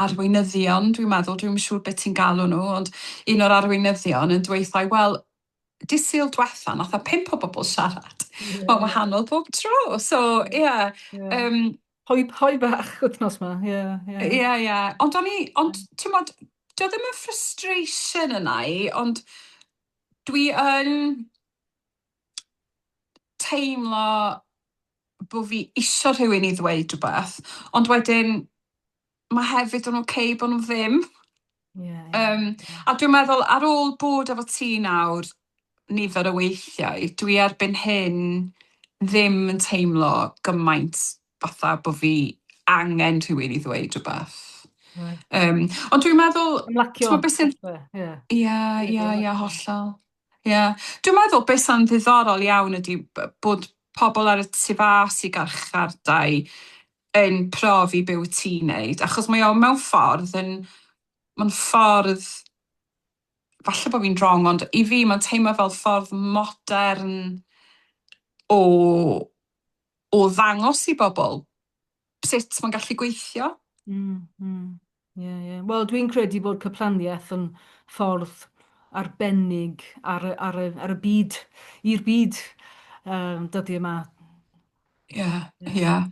arweinyddion, dwi'n meddwl, dwi'm yn siŵr beth ti'n galw nhw, ond un o'r arweinyddion yn dweud, wel, di syl dwetha, nath a pimp o bobl siarad. Yeah. Mae'n wahanol bob tro. So, ie. Yeah. Yeah. Um, hoi, hoi bach wythnos ma, ie. Yeah, ie, yeah. yeah, yeah. Ond o'n i, ond, ti'n modd, dio ddim yn frustration yna i, ond dwi yn teimlo bo fi isio rhywun i ddweud rhywbeth, ond wedyn mae hefyd yn ok bo nhw ddim. Yeah, yeah. Um, a dwi'n meddwl ar ôl bod efo ti nawr nifer o weithiau, dwi erbyn hyn ddim yn teimlo gymaint fatha bo fi angen rhywun i ddweud rhywbeth. Um, ond dwi'n meddwl... Ymlacio. Ti'n beth sy'n... Ie, ie, ie, hollol. Ie. Dwi'n meddwl be' sa'n ddiddorol iawn ydi b- bod pobl ar y tu fas i garchardai yn profi be' wyt ti'n neud achos mae o mewn ffordd yn ma'n ffordd falle bo' fi'n wrong ond i fi ma'n teimlo fel ffordd modern o o ddangos i bobl sut mae'n gallu gweithio. Mm, mm. Ie, ie. Wel, dwi'n credu bod cyplaniaeth yn ffordd arbennig ar y, ar y, ar y byd, i'r byd um, dydy yma. Ie, yeah, ie. Yeah.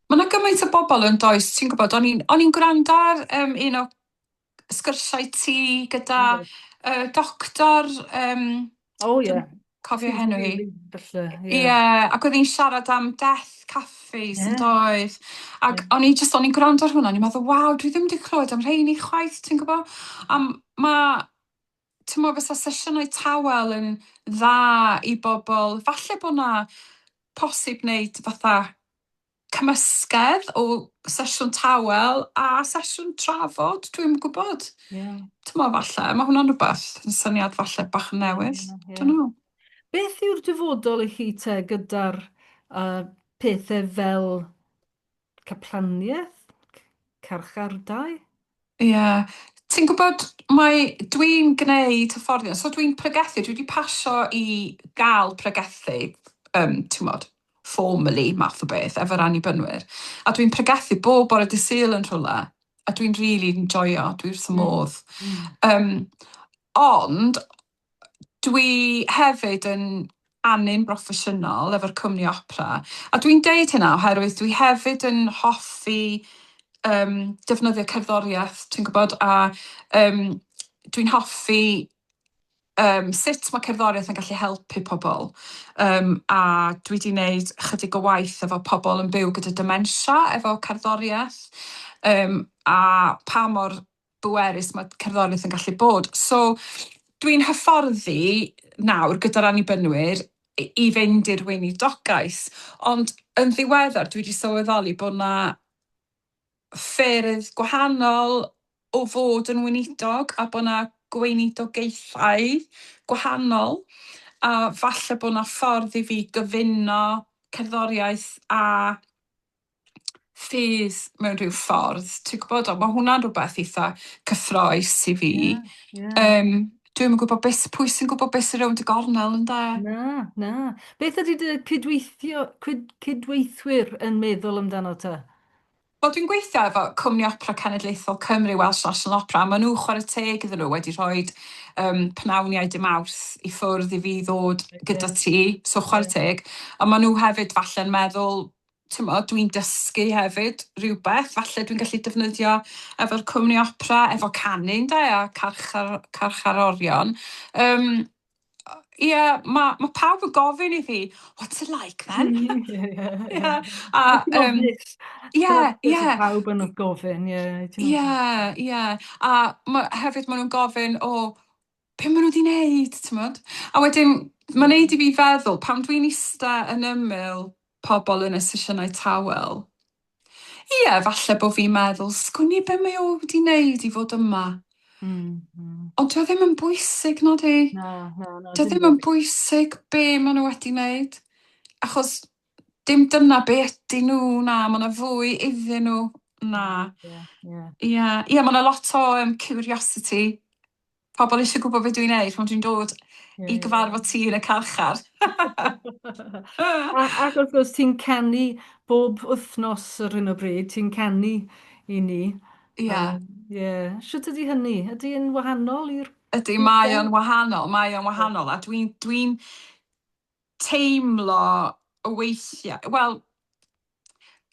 Mae yna gymaint o bobl yn does, ti'n gwybod, o'n i'n gwrando ar um, un o sgyrsiau ti gyda uh, doctor... Um, o oh, ie. Yeah. Cofio henw hi. Ie, yeah. ac oedd hi'n siarad am death cafes yeah. yn doedd. Ac yeah. o'n i just, o'n i'n gwrando ar hwnna, o'n i'n meddwl, waw, dwi ddim wedi clywed am rheini chwaith, ti'n gwybod? A mae ti'n meddwl fysa sesiynau tawel yn dda i bobl, falle bod na posib wneud fatha cymysgedd o sesiwn tawel a sesiwn trafod, dwi'm yn gwybod. Ie. T'mo' falle, ma' hwnna'n rwbeth, yn syniad falle bach yn newydd. Ie, ie. Dunno. Beth yw'r dyfodol i chi te gyda'r yy pethe fel caplanieth, c- carchardai? Ie. Ti'n gwybod, mae... dwi'n gwneud hyfforddiant, so dwi'n pregethu, dwi wedi pasio i gael pregethu, yym, timod, formally, math o beth, efo'r Annibynwyr, a dwi'n pregethu bob bore dydd Sul yn rhywle, a dwi'n rili enjoio, dwi wrth fy modd. Yym, ond, dwi hefyd yn anyn broffesiynol efo'r cwmni opera, a dwi'n deud hynna oherwydd dwi hefyd yn hoffi yym defnyddio cerddoriaeth, ti'n gwybod, a yym dwi'n hoffi yym sut mae cerddoriaeth yn gallu helpu pobl, yym a dwi 'di 'neud chydig o waith efo pobl yn byw gyda dementia efo cerddoriaeth, yym a pa mor bwerus mae cerddoriaeth yn gallu bod. So, dwi'n hyfforddi nawr gyda'r annibynwyr i fynd i'r weinidogaeth, ond yn ddiweddar dwi wedi sylweddoli bod yna ffyrdd gwahanol o fod yn weinidog a bod yna gweinidogaethau gwahanol a falle bod yna ffordd i fi gyfuno cerddoriaeth a ffydd mewn rhyw ffordd, ti'n gwybod, ond mae hwnna'n rhywbeth eitha cyffroes i fi. Yeah, yeah. Um, Dwi'n yn gwybod beth, pwy sy'n gwybod beth sy'n rownd y gornel yn da. Na, na. Beth ydy dy cydweithio, cyd, cydweithwyr yn meddwl amdano ta? Wel, dwi'n gweithio efo Cwmni Opera Cenedlaethol Cymru, Welsh National Opera, a maen nhw chwarae teg iddyn nhw wedi rhoi um, pnawniau dim awrth i ffwrdd i fi ddod gyda ti, so chwarae teg. A maen nhw hefyd falle'n meddwl, timod, dwi'n dysgu hefyd rhywbeth, falle dwi'n gallu defnyddio efo'r cwmni opera, efo canu ynde, a carchar, carcharorion. Um, Ie, yeah, mae ma pawb yn gofyn i fi, what's it like then? Ie, ie. Pawb yn gofyn, ie. Ie, ie. A ma, hefyd maen nhw'n gofyn, o, oh, be maen nhw wedi wneud, timod? A wedyn, mae'n neud i fi feddwl, pam dwi'n ista yn ymyl pobl yn y sesiynau tawel, ie, falle bod fi'n meddwl, sgwni be mae o wedi wneud i fod yma. Mm, mm. Ond dwi ddim yn bwysig, nod i. Na, na, na. Dwi ddim yn bwysig be maen nhw wedi wneud. Achos dim dyna be ydy nhw, na, mae yna fwy iddyn nhw, na. Ie, yeah, ie. Yeah. Ie, yeah, yeah, mae yna lot o um, curiosity pobl eisiau gwybod beth dwi'n neud pan dwi'n dod yeah. i gyfarfod ti yn y carchar. ac wrth gwrs, ti'n canu bob wythnos ar hyn o bryd, ti'n canu i ni. Ie. Yeah. Um, yeah. Sut ydy hynny? Ydy yn wahanol i'r... Ydy, mae o'n wahanol, mae o'n wahanol, a dwi'n dwi, teimlo weithiau, wel,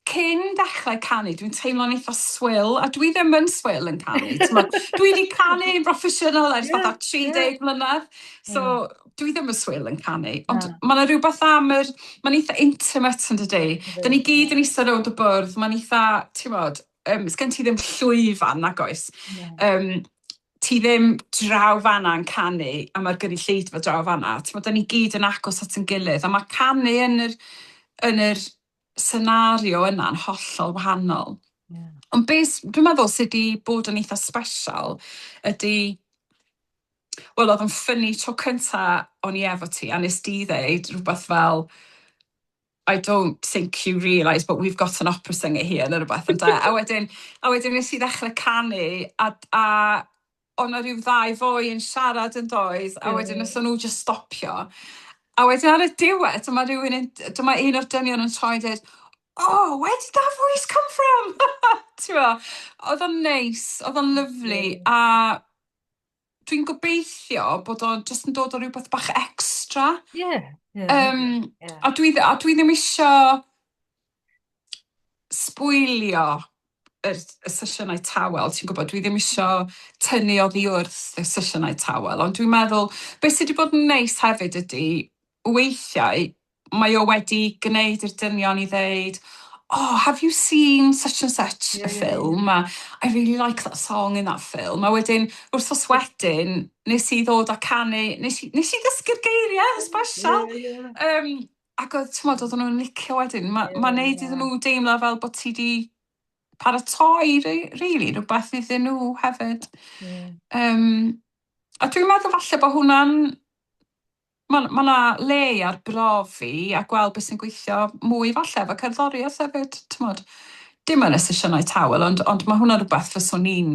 cyn dechrau canu, dwi'n teimlo'n eitha swil, a dwi ddim yn swil yn canu, t'mod. Dwi 'di canu'n broffesiynol ers fatha 30 mlynedd, so dwi ddim yn swil yn canu, ond ma' 'na rywbeth am yr... Ma'n eitha intimate yndydi? 'Dan ni gyd yn ista rownd y bwrdd, ma'n eitha, t'mod, yym, sgen ti ddim llwyfan, nag oes? Yym ti ddim draw fan'na yn canu a mae'r gynulleidfa draw fan'na, timod, dan ni gyd yn agos at ein gilydd a mae canu yn yr, yn yr senario yna'n hollol wahanol. Yeah. Ond beth dwi'n meddwl sydd wedi bod yn eitha special ydy, wel oedd yn ffynnu tro cynta o'n i efo ti a nes di ddeud rhywbeth fel, I don't think you realise but we've got an opera singer here neu rhywbeth ynde a wedyn a wedyn nes i ddechrau canu a a o' 'na rhyw ddau foi yn siarad yn doedd a wedyn nes o'n nhw jyst stopio a wedyn ar y diwedd dyma rhywun yn dyma un o'r dynion yn troi a deud oh where did that voice come from? T'mo' o'dd o'n neis o'dd o'n lyfli a Dwi'n gobeithio bod o jyst yn dod o rhywbeth bach extra. Ie. Yeah, yeah, um, yeah. A dwi, a dwi ddim eisiau sbwylio y, y sesiynau tawel, ti'n gwybod, dwi ddim eisiau tynnu oddi wrth y sesiynau tawel, ond dwi'n meddwl, beth sydd wedi bod yn neis hefyd ydy, weithiau mae o wedi gwneud i'r dynion i ddeud oh have you seen such and such a film a I really like that song in that film a wedyn wrthos wedyn nes i ddod a canu nes i nes i ddysgu'r geiriau yn sbesial yym ac oedd t'mod oedden nhw'n licio wedyn ma' ma'n neud iddyn nhw deimlo fel bod ti 'di paratoi re- rili rwbath iddyn nhw hefyd yym a dwi'n meddwl falle bod hwnna'n Ma' 'na ma' 'na le i arbrofi a gweld beth sy'n gweithio mwy falle efo cerddoriaeth hefyd, t'mod? Dim yn y sesiynau tawel ond ond ma' hwnna'n rwbeth fyswn i'n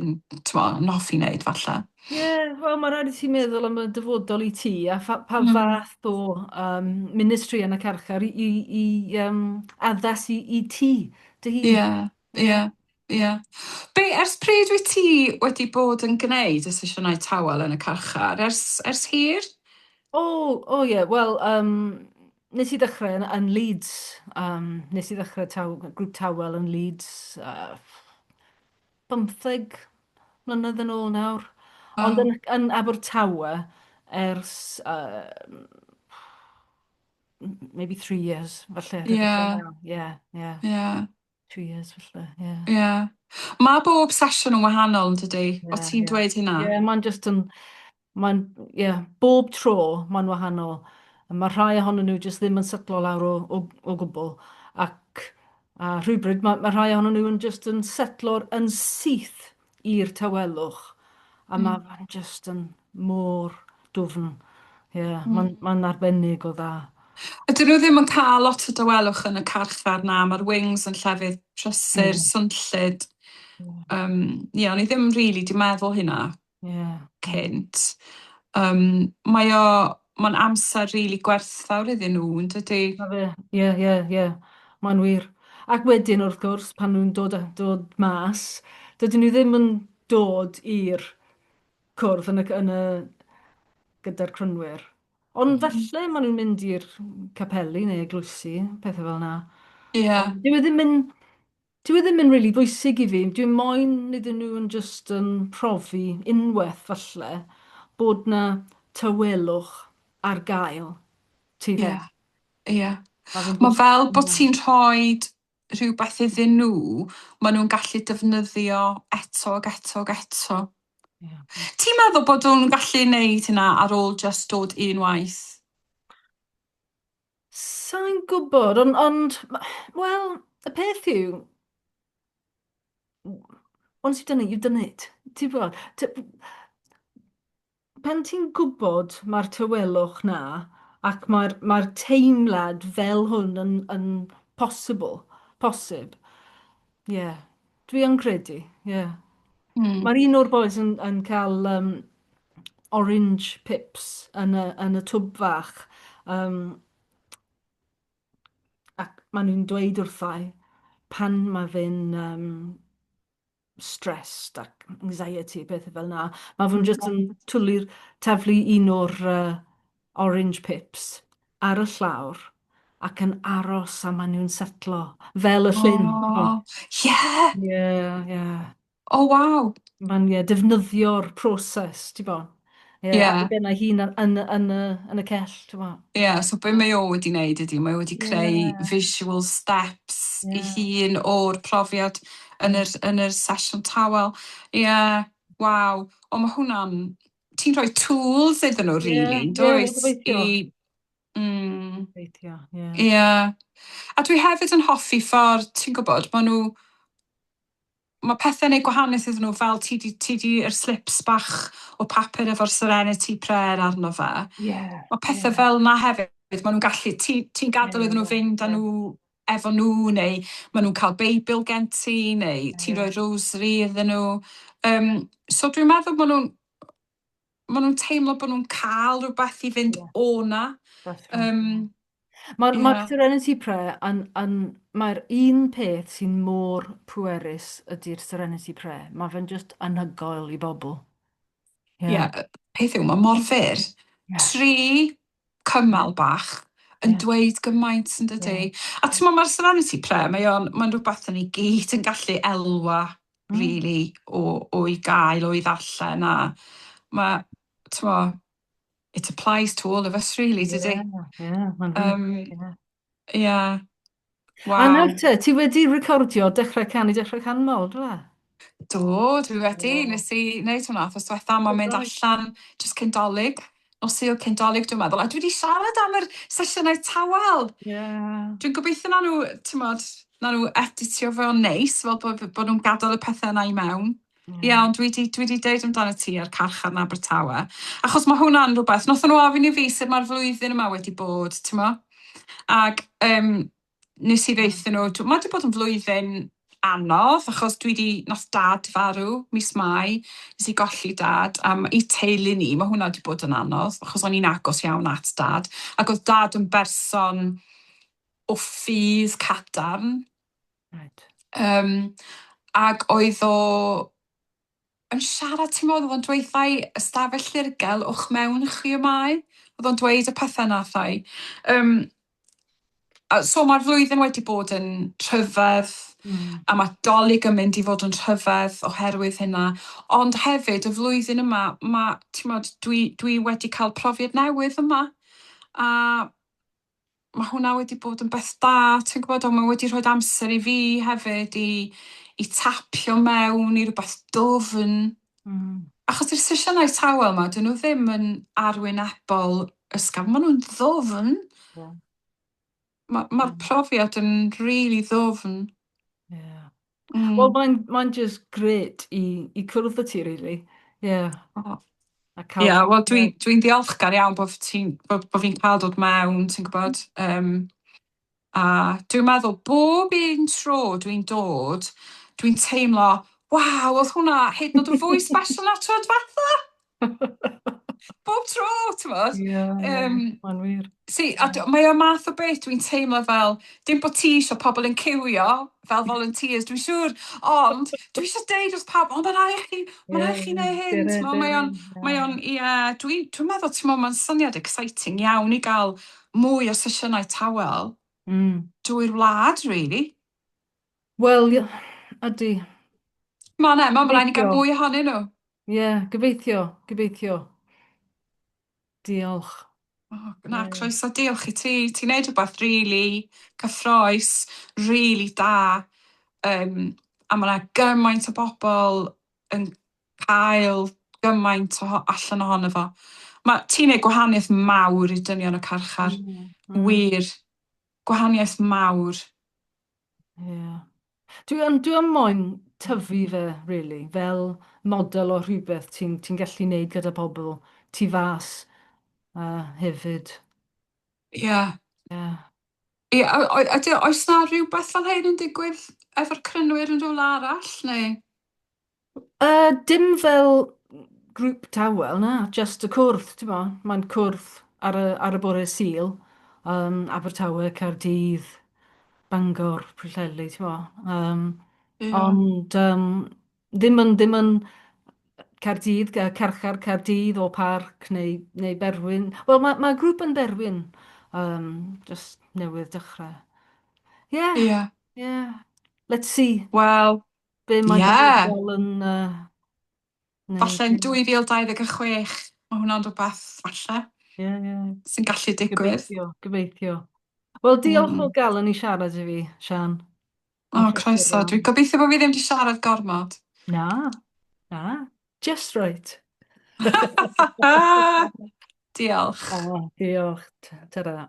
yn t'mo' yn hoffi neud falle. Ie wel ma' raid i ti meddwl am y dyfodol i ti a pha pa fath o yym ministry yn y carchar i i i yym addas i i ti dy hun. Ie ie. Ie. Be... ers pryd wyt ti wedi bod yn gwneud y sesiynau tawel yn y carchar? Ers ers hir? O, o ie, wel, um, nes i ddechrau yn, yn Leeds. Um, nes i ddechrau taw, grŵp tawel yn Leeds uh, 15 mlynedd yn ôl nawr. Wow. Ond yn, yn Abertawe ers uh, maybe three years, falle. Ie. Ie, ie. Ie. two years felly, ie. Yeah. Ie. Yeah. Mae bob sesiwn yn wahanol yn dydy? Yeah, o ti'n yeah. dweud hynna? Ie, yeah, mae'n just yn... Mae'n, ie, yeah, bob tro mae'n wahanol. Mae rhai ohonyn nhw just ddim yn setlo lawr o, o, o gwbl. Ac a rhywbryd mae, mae rhai ohonyn nhw yn just yn setlo'r yn syth. i'r tawelwch a ma' fe'n jyst yn mor dwfn. Ie, ma'n ma'n arbennig o dda. Ydyn nhw ddim yn cael lot o dawelwch yn y carchar, na, ma'r wings yn llefydd prysur, swnllyd. Yym, ie, o'n i ddim rili 'di meddwl hynna... Ie. ...cynt. Yym, mae o... Mae'n amser rili gwerthfawr iddyn nhw, yn dydy? Na fe, ie, ie, ie. Mae'n wir. Ac wedyn, wrth gwrs, pan nhw'n dod a- dod mas, dydyn nhw ddim yn dod i'r cwrdd yn y, yn y, gyda'r crynwyr. Ond falle maen nhw'n mynd i'r capeli neu eglwysi, pethau fel na. Ie. Ond dyw e ddim yn Dyw e ddim yn rili bwysig i fi, dwi moyn iddyn nhw yn jyst yn profi unwaith falle bod 'na tawelwch ar gael, ti 'fyd? Ie, ie. Mae fel bod ti'n rhoi rhywbeth iddyn nhw maen nhw'n gallu defnyddio eto ac eto ac eto. Ti'n meddwl bod nhw'n gallu neud hynna ar ôl jyst dod un waith? Sai'n gwybod, ond, ond wel, y peth yw, once you've done it, you've done it. Ti'n gwybod? Pan ti'n gwybod mae'r tywelwch na, ac mae'r mae teimlad fel hwn yn, yn possible, posib. Ie. Yeah. Dwi yn credu, ie. Mm. Mae'r un o'r boys yn, yn cael um, orange pips yn y, yn y twb fach. Um, ac maen nhw'n dweud wrthau pan mae fe'n um, stressed ac anxiety, pethau fel yna. Mae fe'n jyst yn twli'r taflu un o'r uh, Orange pips, ar y llawr, ac yn aros a maen nhw'n setlo, fel y llyn. O, ie! Ie, ie. O, waw! Mae'n, ie, defnyddio'r proses, ti'n bo. Ie, yeah. ar ben ei hun yn, yn, yn, yn y cell, ti'n bo. Ie, yeah, so be mae o wedi wneud ydy, mae o wedi creu yeah. visual steps yeah. i hun o'r profiad yn yr, yn yr sesiwn tawel. Ie, yeah, waw. O, mae hwnna'n ti'n rhoi tools iddyn nhw rili, yn dwyt? Ie, gobeithio. Ie. A dwi hefyd yn hoffi ffordd, ti'n gwybod, maen nhw... Mae pethau'n gwneud gwahaniaeth iddyn nhw, fel ti di, ti di yr slips bach o papur efo'r Serenity Prayer arno fe. Ie. Mae pethau fel 'na hefyd, maen nhw'n gallu... Ti, ti'n gadael iddyn nhw fynd â nhw efo nhw neu ma' nhw'n cael beibl gen ti neu ti'n rhoi rosary iddyn nhw yym so dwi'n meddwl bod nhw'n ma' nhw'n teimlo bod nhw'n cael rhywbeth i fynd yeah. o 'na. Um, Mae'r yeah. mae'r Serenity Prayer yn, yn mae'r un peth sy'n mor pwerus ydy'r Serenity Prayer. Mae fe'n just anhygoel i bobl. Ie, yeah. yeah, peth yw, mae mor fyr. Yeah. Tri cymal bach yn yeah. dweud gymaint yn dydy. Yeah. A ti'n mae'r Serenity Prayer, mae o'n, mae'n rhywbeth yn ei gyd yn gallu elwa, mm. really, o, o i gael, o i ddarllen, a mae, ti'n it applies to all of us, really, dydy. Yeah, yeah, um, yeah. Ie. A Waw. nawr te, ti wedi recordio Dechrau Canu Dechrau Canmol, do fe? Do, dwi wedi. O. Nes i wneud hwnna wthos dwetha, mae'n mynd Reit. allan jyst cyn Dolig, nos Sul cyn Dolig dwi'n meddwl, a dwi wedi siarad am yr sesiynau tawel. Ie. Dwi'n gobeithio na nhw, timod, na nhw editio fo'n neis, fel bod bod nhw'n gadael y pethau yna i mewn. Iawn, dwi 'di, dwi 'di deud amdano ti a'r carchar yn Abertawe, achos mae hwnna'n rhywbeth, wnaethon nhw ofyn i fi sut mae'r flwyddyn yma wedi bod, ti'n mo? Ac um, nes i ddeithio nhw, mae wedi bod yn flwyddyn anodd, achos dwi wedi, nath dad farw mis Mai, nes i golli dad, a i teulu ni, mae hwnna wedi bod yn anodd, achos o'n i'n agos iawn at dad, ac oedd dad yn berson o ffydd cadarn, Reit. Um, ac oedd o yn siarad, ti'n modd, oedd o'n dweud thai ystafell ddirgel o'ch mewn chi y mae. Oedd o'n dweud y pethau na thai. Um, so mae'r flwyddyn wedi bod yn rhyfedd mm. a mae dolyg yn mynd i fod yn rhyfedd oherwydd hynna. Ond hefyd y flwyddyn yma, mae, ti'n modd, dwi, dwi wedi cael profiad newydd yma. A mae hwnna wedi bod yn beth da, ti'n gwybod, ond mae wedi rhoi amser i fi hefyd i, i tapio mewn i rhywbeth dwfn. Mm. Achos i'r sesiynau tawel yma, dyn nhw ddim yn arwynebol ysgafn, maen nhw'n ddofn. Yeah. Mae'r ma, mm. profiad yn rili really ddofn. Yeah. Mm. Wel mae'n mae'n just gret i i cwrdd â ti rili. Ie. O. A ca'l... Ie wel dwi dwi'n ddiolchgar iawn bo' f- ti'n bo' bo' fi'n ca'l dod mewn ti'n gwbod yym a dwi'n meddwl bob un tro dwi'n dod dwi'n teimlo waw o'dd hwnna hyd yn o'd yn fwy sbeshal na'r tro dwetha. Bob tro, ti'n bod? Ie, mae'n wir. Si, a mae o math o beth dwi'n teimlo fel, dim bod ti eisiau pobl yn cywio fel volunteers, dwi'n siŵr, ond dwi eisiau deud wrth pawb, o, mae'n rhaid i chi, mae'n rhaid i chi neud hyn, ti'n bod, mae o'n, mae o'n, ie, dwi'n dwi meddwl, ti'n bod, mae'n syniad exciting iawn i gael mwy o sesiynau tawel mm. drwy'r wlad, really. Wel, ydy. Mae yna, mae'n blaen i gael mwy ohonyn nhw. Ie, yeah, gobeithio, gobeithio. Diolch. Oh, na, croeso, diolch i ti. Ti'n neud rhywbeth really cyffroes, really da. Um, a mae yna gymaint o bobl yn cael gymaint o allan ohono fo. Mae ti'n neud gwahaniaeth mawr i dynion y carchar. Mm, mm. Wir, gwahaniaeth mawr. Ie. Dwi yn dwi yn moyn tyfu fe rili fel model o rhywbeth ti'n ti'n gallu neud gyda pobl tu fas yy hefyd. Ie. Ie. Ie, o- o- ydy, oes na rhywbeth fel hyn yn digwydd efo'r crynwyr yn rhywle arall, neu? Yy, dim fel grŵp tawel, na, jyst y cwrdd, ti'n mo, mae'n cwrdd ar y, ar y bore Sul, um, Abertawe, Caerdydd, Bangor, Pwllheli, ti'n mo. Um, Ie. ond um, ddim yn, ddim yn Caerdydd, Ca- Carchar, Caerdydd o Parc neu, neu Berwyn. Wel, mae, mae grŵp yn Berwyn, um, jyst newydd dechrau. Ie, Ie. ie, let's see. Wel, Be mae yeah. dyfodol yn... Uh, falle yn 2026, mae hwnna'n rhywbeth, falle, yeah, yeah. sy'n gallu digwydd. Gobeithio, gobeithio. Wel, diolch mm. o gael yn ei siarad i fi, Sian. O, oh, croeso. Dwi'n gobeithio bod fi ddim wedi siarad gormod. Na, na. Just right. diolch. Oh, diolch. Ta-ra.